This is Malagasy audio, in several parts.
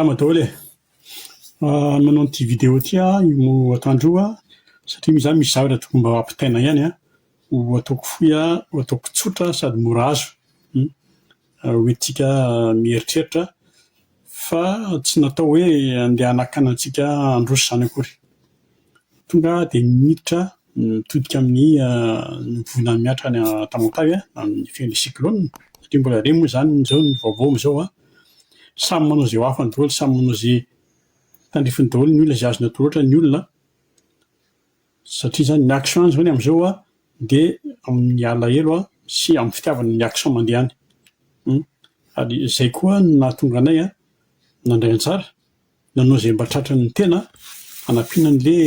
Salama daholo e. Ah, nanao an'ity vidéo ity aho io atoandro io satria misy zany misy zavatra tokony mba ampitaina ihany an. Ho ataoko fohy an, ho ataoko tsotra sady mora azo. Hmm. Hoy isika mieritreritra fa tsy natao hoe handeha hanakana antsika handroso izany akory. Tonga dia miditra mitodika amin'ny volana mihatra any an-tampon-tavy amin'ny fen'ny cyclone, satria mbola re moa izany amin'izao ny vaovao amin'izao an. Samy manao izay ho afany daholo, samy manao izay tandrifiny daholo ny olona, izay azony atao loatra ny olona. Satria izany ny action izany amin'izao dia amin'ny alahelo sy amin'ny fitiavana ny action mandeha any. Ary izay koa no nahatonga anay nandray anjara, nanao izay mba tratran'ny tena hanampiana an'ilay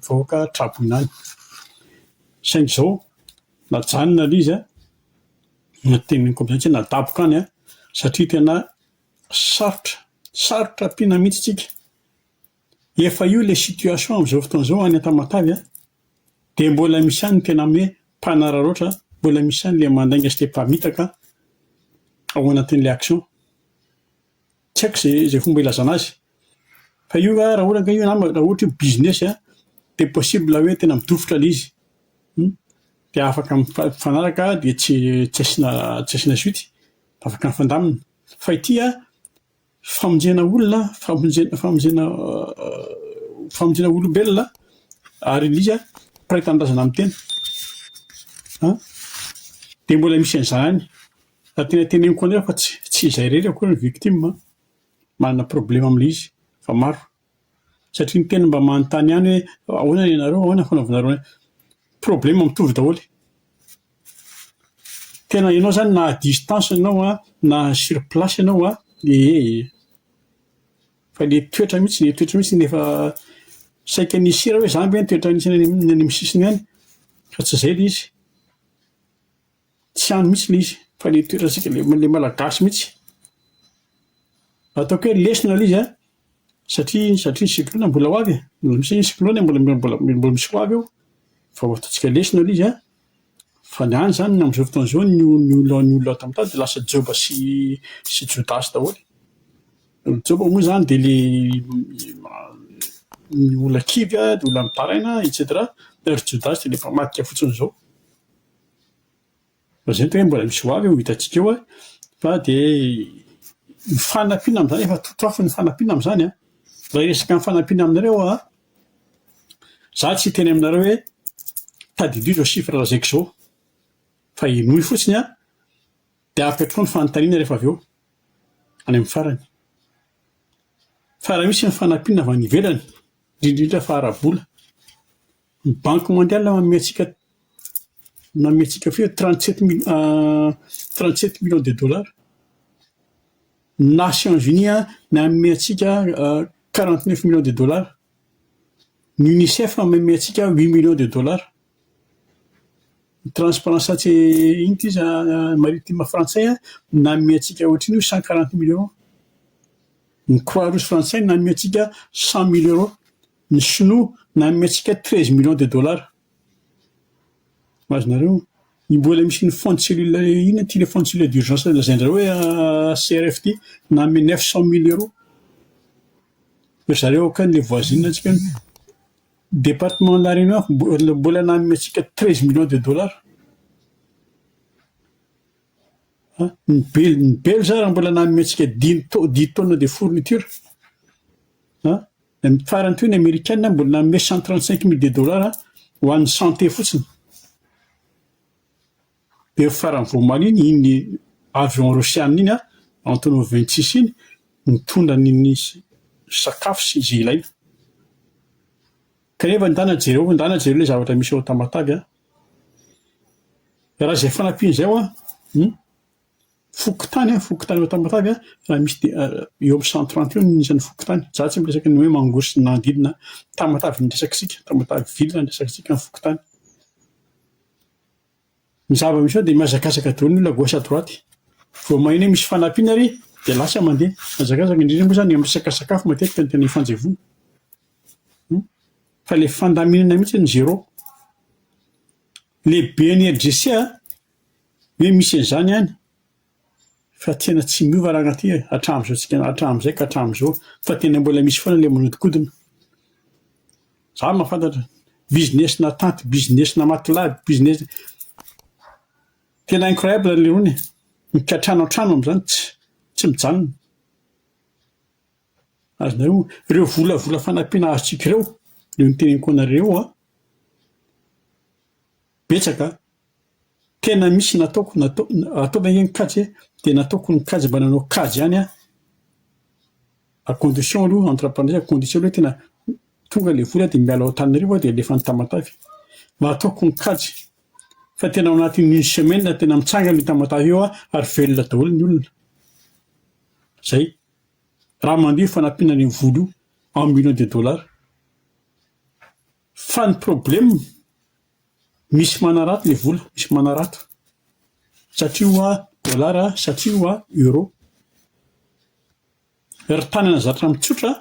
vahoaka tra-boina any. Saingy izao, najanona ilay izy, na teny koa izany tsy hoe nadaboka any satria tena sarotra, sarotra ampiana mihitsy isika. Efa io ilay situation amin'izao fotoana izao any Tamatave a! Dia mbola misy ihany ny tena hoe mpanararaotra, mbola misy ihany ilay mandainga sy ilay mpamitaka ao anatin'ilay action. Tsy haiko izay izay fomba ilazana azy. Fa io raha ohatra ka io nama, raha ohatra io business a, dia possible hoe tena midofotra ilay izy. Hum. Dia afaka mifanaraka dia tsy tsy asiana tsy asiana suite. Afaka mifandamina. Fa ity an! famonjena olona, famonjena famonjena famonjena olombelona ary indrindra mpiray tanindrazana amin'ny tena an dia mbola misy an'izany ary tena teneniko anefa fa tsy tsy izay irery akory ny victime manana problème amin'ilay izy fa maro Satria ny tena mba manontany ihany hoe ahoana ianareo, ahoana ny fanaovanareo anay. Problème mitovy daholo. Tena ianao izany na à distance ianao an, na sur place ianao an, ee. Fa ilay toetra mihitsy, ilay toetra mihitsy no efa saika ny hisiry aho hoe izany ve no toetra misy any amin'ny sisiny any? Fa tsy izay ilay izy. Tsy any mihitsy ilay izy fa ilay toerantsika ilay ilay malagasy mihitsy. Ataoko hoe lesona ilay izy an, satria satria ny siklona mbola ho avy e, mbola misy ny siklona mbola mbola mbola misy ho avy eo, vao ataontsika lesona ilay izy an, fa ny any izany amin'izao fotoana izao ny o- ny olona ny olona ato amin'ny tany dia lasa joba sy sy jodasy daholo. Ny joba moa izany dia ilay ny olona kivy an, ny olona mitaraina etcetera, ary ny jodasy dia ilay mpamadika fotsiny izao. Lazain'ny tena hoe mbola misy ho avy eo hitantsika eo fa dia ny fanampiana amin'izany efa totoafo ny fanampiana amin'izany an! Raha hiresaka ny fanampiana aminareo aho an, za tsy hiteny aminareo hoe tadidio izao chiffre lazaiko izao fa henoy fotsiny an, dia ampy hatrao ny fanontaniana rehefa avy eo any amin'ny farany. Fa raha misy ny fanampiana avy any ivelany, indrindra indrindra fa ara-bola, Ny banky mondiale manome antsika manome antsika feo trente sept mil trente sept millions de dollars. Ny nations unies an manome antsika quarante neuf millions de dollars. Ny unicef manome antsika huit millions de dollars. Ny transparence ts inona ty izy an maritime frantsay an manome antsika ohatran'io cent quarante mille euros. Ny croix rouge frantsay manome antsika cent mille euros. Ny sinoa nanome antsika treize millions de dollars. Azonareo? Io mbola misy ny fond cellule inona ity le fond cellule d'urgence lazaindrareo hoe CRF ity nanome neuf cent mille euros. Ry zareo akany le voisine antsika any, departement de la renoir mbola mbola nanome antsika treize millions de dollars. An, ny bel- ny belge ara mbola nanome antsika dimy tao- dix tonnes de fourniture. An. Ny farany teo ny amerikana mbola nanome cent trente cinq mille de dollars ho an'ny santé fotsiny. Dia ny farany vao omaly iny, iny avion rosiana iny Antonov vingt six iny nitondra ny ny sakafo sy izay ilaina. Kanefa ndana jereo, ndana jereo ilay zavatra misy ao Tamatave a. Raha izay fanampiana izay ho'a, hum. Fokontany an, fokontany ao Tamatave an, raha misy dia eo amin'ny cent trente eo ny isan'ny fokontany. Za tsy miresaka ny hoe Mangoro sy ny manodidina an. Tamatave no resaka tsika, Tamatave ville no resaka tsika, ny fokontany. Ny zava misy ao dia mihazakazaka daholo ny olona gauche à droite. Vao maheno hoe misy fanampiana ary dia lasa mandeha. Mihazakazaka, indrindra moa zany amin'ny resaka sakafo matetika no tena ifanjevoana. Fa ilay fandaminana mihitsy no zéro. Lehiben'ny LGC an. Hoe misy an'izany any fa tena tsy miova raha angaha ty hatramin'izao tsika hatramin'izay ka hatramin'izao fa tena mbola misy foana ilay manodikodina. Za no mahafantatra business na tanty business na matylaby business tena incroyable ny lerony e! Mikatrano an-trano amin'izany tsy tsy mijanona. Azonareo ireo volavola fanampiana azontsika ireo io no teneniko anareo an! Betsaka an! Tena misy nataoko natao ataovy ange ny kajy e! Dia nataoko ny kajy mba nanao kajy ihany aho. A condition aloha entre parenthèses condition aloha tena tonga ilay vola dia miala ao Antananarivo aho dia alefa any Tamatave. Mba ataoko ny kajy. Fa tena ao anatin'ny une semaine tena mitsangana io Tamatave io an, ary velona daholo ny olona. Zay. Raha mandeha io fanampiana an'io vola io en millions de dollars. Fa ny problème Misy manarato ilay vola, misy manarato satria hoa dollars satria hoa euro. Ry tanana zatra mitsotra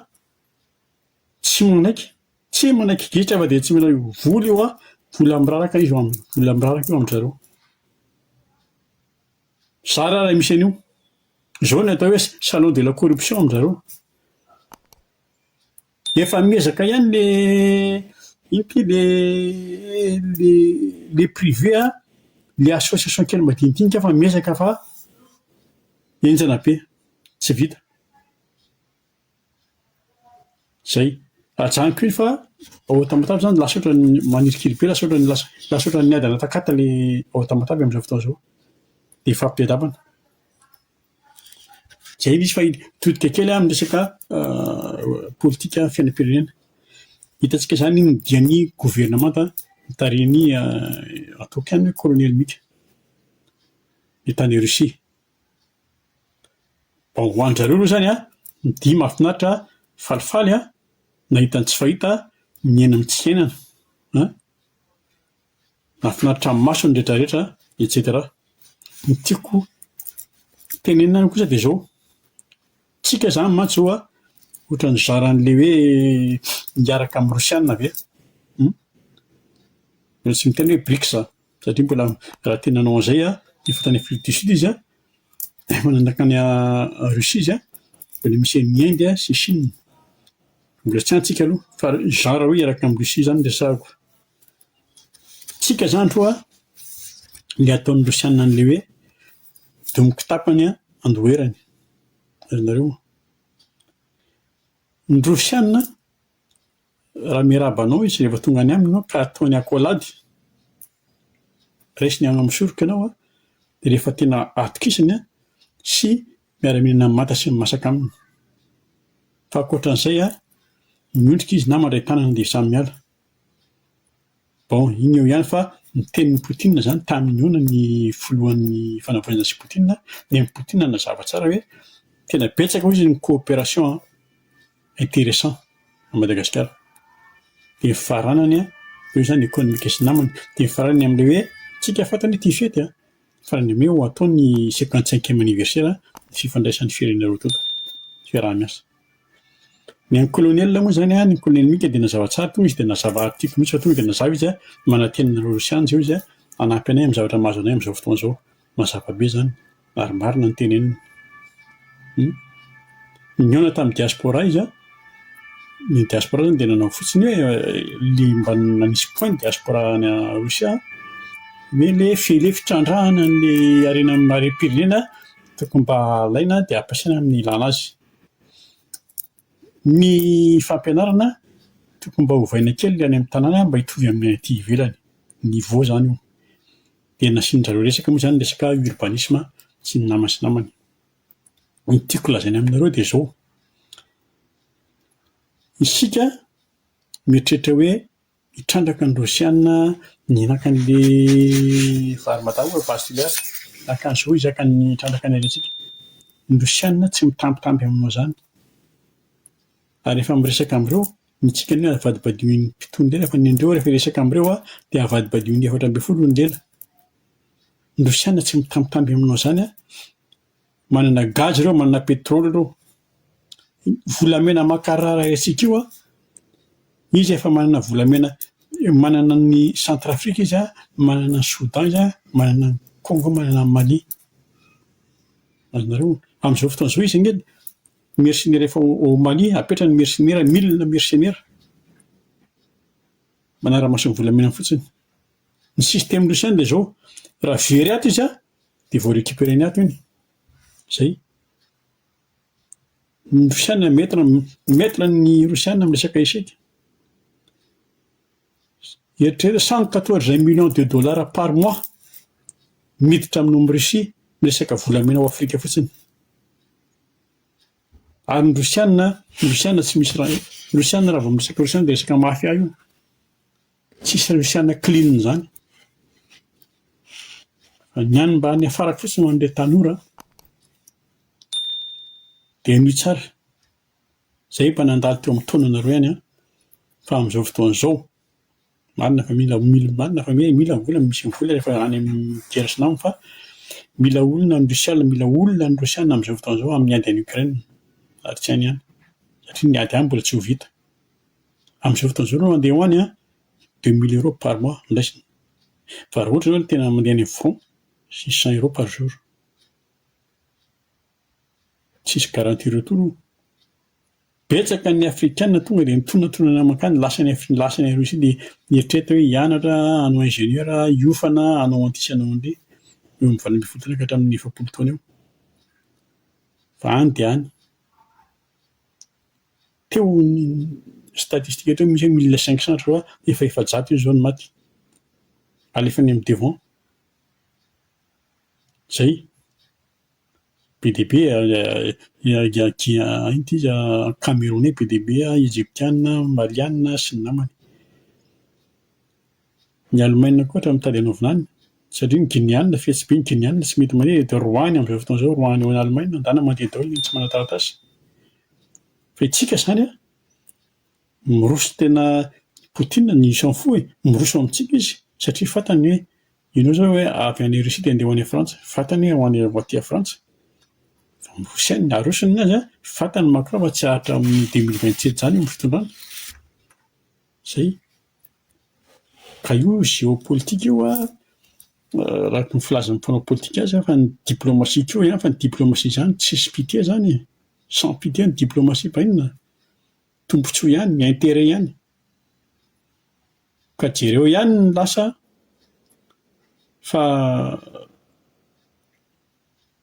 tsy manaiky, tsy manaiky gidro afa dia tsy mila io vola io hoa vola miraraka izy amin'ny vola miraraka io amin-dry zareo. Zara raha misy an'io. Izao no atao hoe salon de la corruption amin-dry zareo. Efa miezaka ihany le ino ity le le le privé a, le association kely madinidinika fa miezaka fa henjana be, tsy vita. Zay. Ajanoko iny fa ao Tamatave zany lasa ohatran'ny manirikiry be, lasa ohatran'ny lasa lasa ohatran'ny adana takata le ao Tamatave am'zao fotoana zao. De ifampiadabana. Zay misy fa mitodika kely amin'ny resaka politika fiainam-pirenena. Hitantsika izany iny dian'ny governemanta notarihin'i ataoko ihany hoe kolonely Mika dia tany Russie. Vao ho an-dry zareo aloha izany an, ny dihy mahafinaritra, falifaly an, nahita ny tsy fahita, niaina ny tsy fiainana an. Mahafinaritra maso ny rehetra rehetra etc. Ny tiako tenenina kosa dia zao, tsika zany mantsy zao an, ohatran'ny nizara an'le hoe hiaraka amin'ny rosiana ve? Hum? Mbola tsy miteny hoe brics aho, satria mbola raha te nanao an'izay an, efa tany afrique du sud izy an, efa nanjaka any russie izy an, mbola misy an'i inde sy chine, mbola tsy any tsika aloha, fa zara hoe hiaraka amin'i russie zany no resahako. Tsika zany ro a! le ataon'ny rosianina an'le hoe domo kitapany a andoherany ry nareo a! ny rosianina raha miarahaba anao izy rehefa tonga any aminy ianao ka ataony accolade resiny hagnamosoroko ianao a! de rehefa tena atokisany a! sy miara mihinana manta sy masaka aminy fa ankoatran'izay a! miondrika izy na mandray tanana dia samy miala Bon, iny eo ihany fa ny tenin'i Poutine izany tamin'ny noana ny filohan'ny fanavaozana sy Poutine dia ny Poutine nanazava tsara hoe tena betsaka hoy izy ny coopération intéressant à Madagascar. Dia ny fifaranany an, eo izany économique sy namana. Dia ny fifaranany amin'ilay hoe, tsika fantany hoe tia fety an, fifaranany amin'ny hoe ho atao ny cinquante cinquième anniversaire ny fifandraisan'ny firenena roa tonta. Fiaraha-miasa. Ny an'ny kolonely moa izany, ny kolonely Mika dia nazava tsara tonga izy dia nazava tiako mihitsy fa tonga dia nazava izy manantena anareo rosiana izao izy hanampy anay amin'ny zavatra mahazo anay amin'izao fotoana izao. Mazava be izany ary marina ny teneniny. Nihaona tamin'ny diaspora izy, ny diaspora izany dia nanao fotsiny hoe le mba nanisy point ny diaspora any Rosia hoe le fele fitrandrahana an'ilay harena marim-pirenena tokony mba alaina dia ampiasaina amin'ny ilàna azy. Ny fampianarana tokony mba ovaina kely ny any amin'ny tanàna mba hitovy amin'ny aty ivelany, niveau izany io. Dia nasian-dry zareo resaka moa izany ny resaka urbanisme sy ny nama sy namana. Ny tiako lazaina aminareo dia izao, isika mieritreritra hoe Nitrandraka ny Rosiana ny nakan'ilay varimadango ao Vastuliar. Nakan'i Zo izaka ny trandraka ny aretintsika. Ny Rosiana tsy mitambitamby aminao izany. Ary rehefa miresaka amin'ireo, ny tsika anie avadibadiohin'ny mpitony lela fa ny andreo rehefa hiresaka amin'ireo dia avadibadiohin'ny efatra ambin'ny folo ny lela. Ny Rosiana tsy mitambitamby aminao izany an. Manana gaz ireo, manana pétrole ireo. Volamena makarara haintsika io an, izy efa manana volamena, manana an'i Centrafrique izy an, manana an'i Soudan izy an, manana an'i Congo, manana an'i Mali. Azonareo? Amin'izao fotoana izao izy anie mercenaires efa ao Mali, apetrany mercenaires milles mercenaires, manara-maso ny volamena fotsiny. Ny système Russian dia izao, raha very ato izy an, dia vao recuperer ny ato iny, zay. Ny rosiana maitre maitre ny rosiana amin'ny resaka échec, eritrereto cent quatorze millions de dollars par mois miditra amin'ny ao russie miresaka volamena ao afrika fotsiny, ary ny rosiana ny rosiana tsy misy raha ny rosiana raha vao miresaka rosiana dia resaka mafia io. Tsy hisy Luciana clean izany fa ny any mba any afara fotsiny ho an'ireo tanora dia henoy tsara izay efa nandalo teo amin'ny taonanareo ihany fa amin'izao fotoana izao marina fa mila marina fa hoe mila vola misy ny vola rehefa any amin'ny guerre sy nama fa mila olona any Rusiana mila olona any Rusiana amin'izao fotoana izao amin'ny ady any Ukraine ary tsy any ihany satria ny ady any mbola tsy ho vita. Amin'izao fotoana izao aloha mandeha ho any an, deux mille euros par mois no raisina. Fa raha ohatra ianao no tena mandeha any amin'ny front, six cents euros par jour. Tsisy garantie retour io. Betsaka ny afrikana tonga dia mitonantonana mankany, lasa any Af- lasa any Russie dia mieritreritra hoe hianatra, hanao ingénieur, hiofana, hanao an'ity sy hanao an'ireny. Eo amin'ny valo ambin'ny folo taona ka hatramin'ny efapolo taona eo. Fa any dia any. Teo ny statistika teo misy hoe mille cinq cents je crois efa efajato izy zao ny maty alefa any amin'ny devant zay be dia be inty izy cameronais be dia be egyptiana maliana sy ny namany Ny Alemaina koa hatramin'ny tady hanaovina any, satria ny Gineana, fihetsy be ny Gineana, tsy mety mandeha dia dia roahiny amin'izao fotoana izao, roahiny eo an'Alemaina, andehanany mandeha daholo ny tsy manan-taratasy. Fa isika izany an, miroso tena i Poutine n'y s'en fout e, miroso amintsika izy satria fantany hoe ianao izao hoe avy any Russie dia andeha ho any Frantsa, fantany hoe ho any ho aty Frantsa, fa miroso ihany, arosony ny azy an, fantany Macron fa tsy haharitra amin'ny deux mille vingt sept izany io amin'ny fitondrana. Zay. Ka io géopolitique io an, araka ny filazan'ny mpanao politika azy fa ny diplomatie koa ihany fa ny diplomatie zany tsisy pite zany e, sans pite ny diplomatie mba inona? Tombotsoa ihany ny interet ihany. Ka jereo ihany ny lasa fa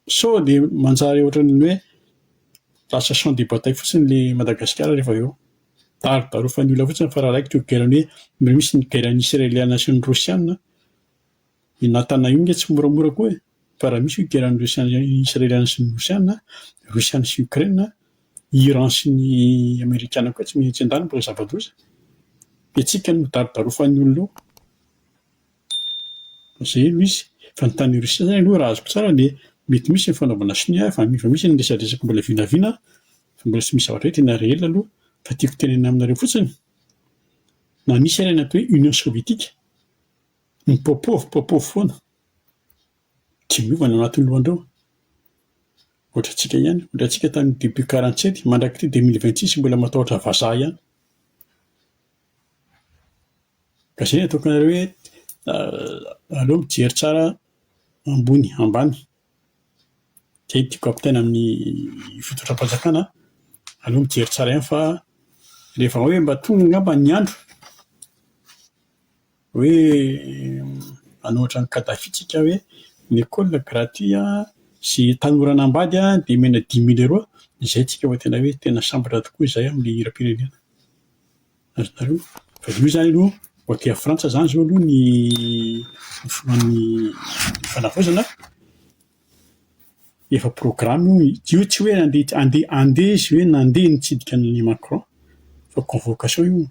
Sao dia manjary ohatran'ny hoe lasa champ de bataille fotsiny ilay Madagasikara rehefa avy eo. Darodarofan'ny olona fotsiny fa raha raikitra io guerre-ny hoe misy ny guerre-ny Israeliana sy ny Rosiana, i Natana io nge tsy moramora koa e! Fa raha misy io guerre-ny Rosiana Israeliana sy ny Rosiana, Rosiana sy Ukraine, Iran sy ny Amerikana koa tsy miha tsy an-daniny fa zava-doza. Dia tsika no darodarofan'ny olona eo. Izay no izy. Fa ny tany Russie zany aloha raha azoko tsara dia mety misy ny fanaovana sonia efa efa misy ny resadresaka mbola vinavina fa mbola tsy misy zavatra hoe tena réel aloha fa tiako tenenana aminareo fotsiny na nisy ary ny atao hoe union sovietika ny popov popov foana tsy miova ny ao anatin'ny lohandreo ohatra antsika ihany ohatra antsika tany début quarante sept mandrak'ity deux mille vingt six mbola matahotra vazaha ihany Izay no ataoko anareo hoe aleo mijery tsara ambony ambany. Izay no tiako ampitaina amin'ny fitondram-panjakana an. Aleo mijery tsara ihany fa rehefa hoe mba tonga angamba ny andro. Hoe anao ohatran'i Kadhafi tsika hoe ny école gratuit sy tanora anambady dia omena dimy mille euro, izay tsika vao tena hoe tena sambatra tokoa izay amin'ny hiram-pirenena. Azonareo? Fa io izany aloha vao aty Frantsa izany izao aloha ny ny filohan'ny fanavaozana. Efa programme io, io tsy hoe andeha andeha andeha izy hoe nandeha nitsidika an'i Macron fa convocation io,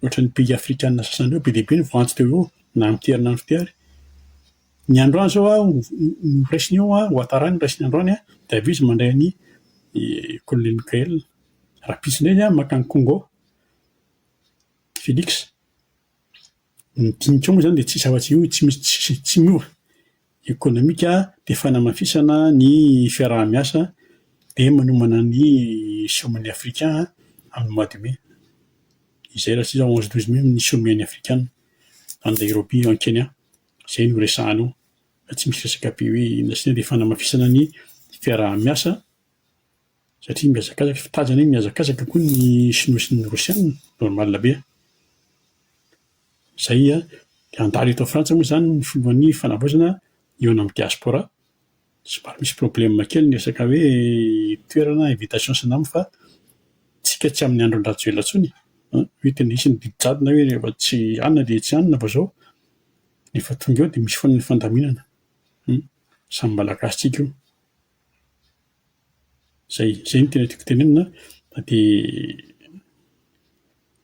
ohatran'ny pays afrikana sasany ireo be dia be ny voantso teo eo na amin'ny tery na amin'ny fiary, ny androany zao aho noraisiny eo an, Ouattara noraisiny androany an, dia avy eo izy mandray an'i colonel Mickaël, rahampitso indray izy an maka an'i Congo, Felix. Ny dinika moa izany dia tsisy afa-tsy io, tsy misy tsisy, tsy miova. Ekonomika dia fanamafisana ny fiaraha-miasa dia manomana ny sommet-n'ny afrika amin'ny mois de mai. Izay raha tsy iza onze douze mai ny sommet-n'ny afrikana any Nairobi any Kenya. Izay no resahana ao fa tsy misy resaka be hoe inona sy inona dia fanamafisana ny fiaraha-miasa. Satria mihazakazaka ny fitazana iny, mihazakazaka koa ny Shinoa sy ny Rosiana, normal be. Izay dia handalo eto Frantsa moa izany ny filohan'ny fanavaozana hihaona amin'ny diaspora. Somary misy problème kely ny resaka hoe toerana, invitation sy ny namany fa tsika tsy amin'ny andron'i Rajoelina intsony an! Hoe tena hisy ny didy jadona hoe rehefa tsy hanina dia tsy hanina fa izao rehefa tonga eo dia misy foana ny fandaminana. Samy Malagasy tsika io. Izay izay no tena tiako tenenina an, dia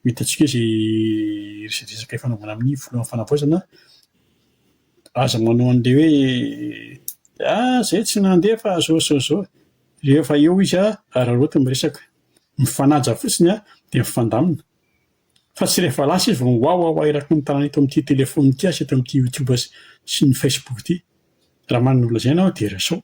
ho hitantsika eo izay resadresaka hifanaovana amin'ny Filohan'ny Fanavaozana an, aza manao an'ilay hoe ah izay tsy nandeha fa izao izao izao, rehefa eo izy an, araraoty ny resaka, mifanaja fotsiny an, dia mifandamina, fa tsy rehefa lasa izy vao miwawawa eraky ny tanana eto amin'ity telephone ity sy eto amin'ity youtube sy ny facebook ity, raha manana ny holazaina aho dia resao.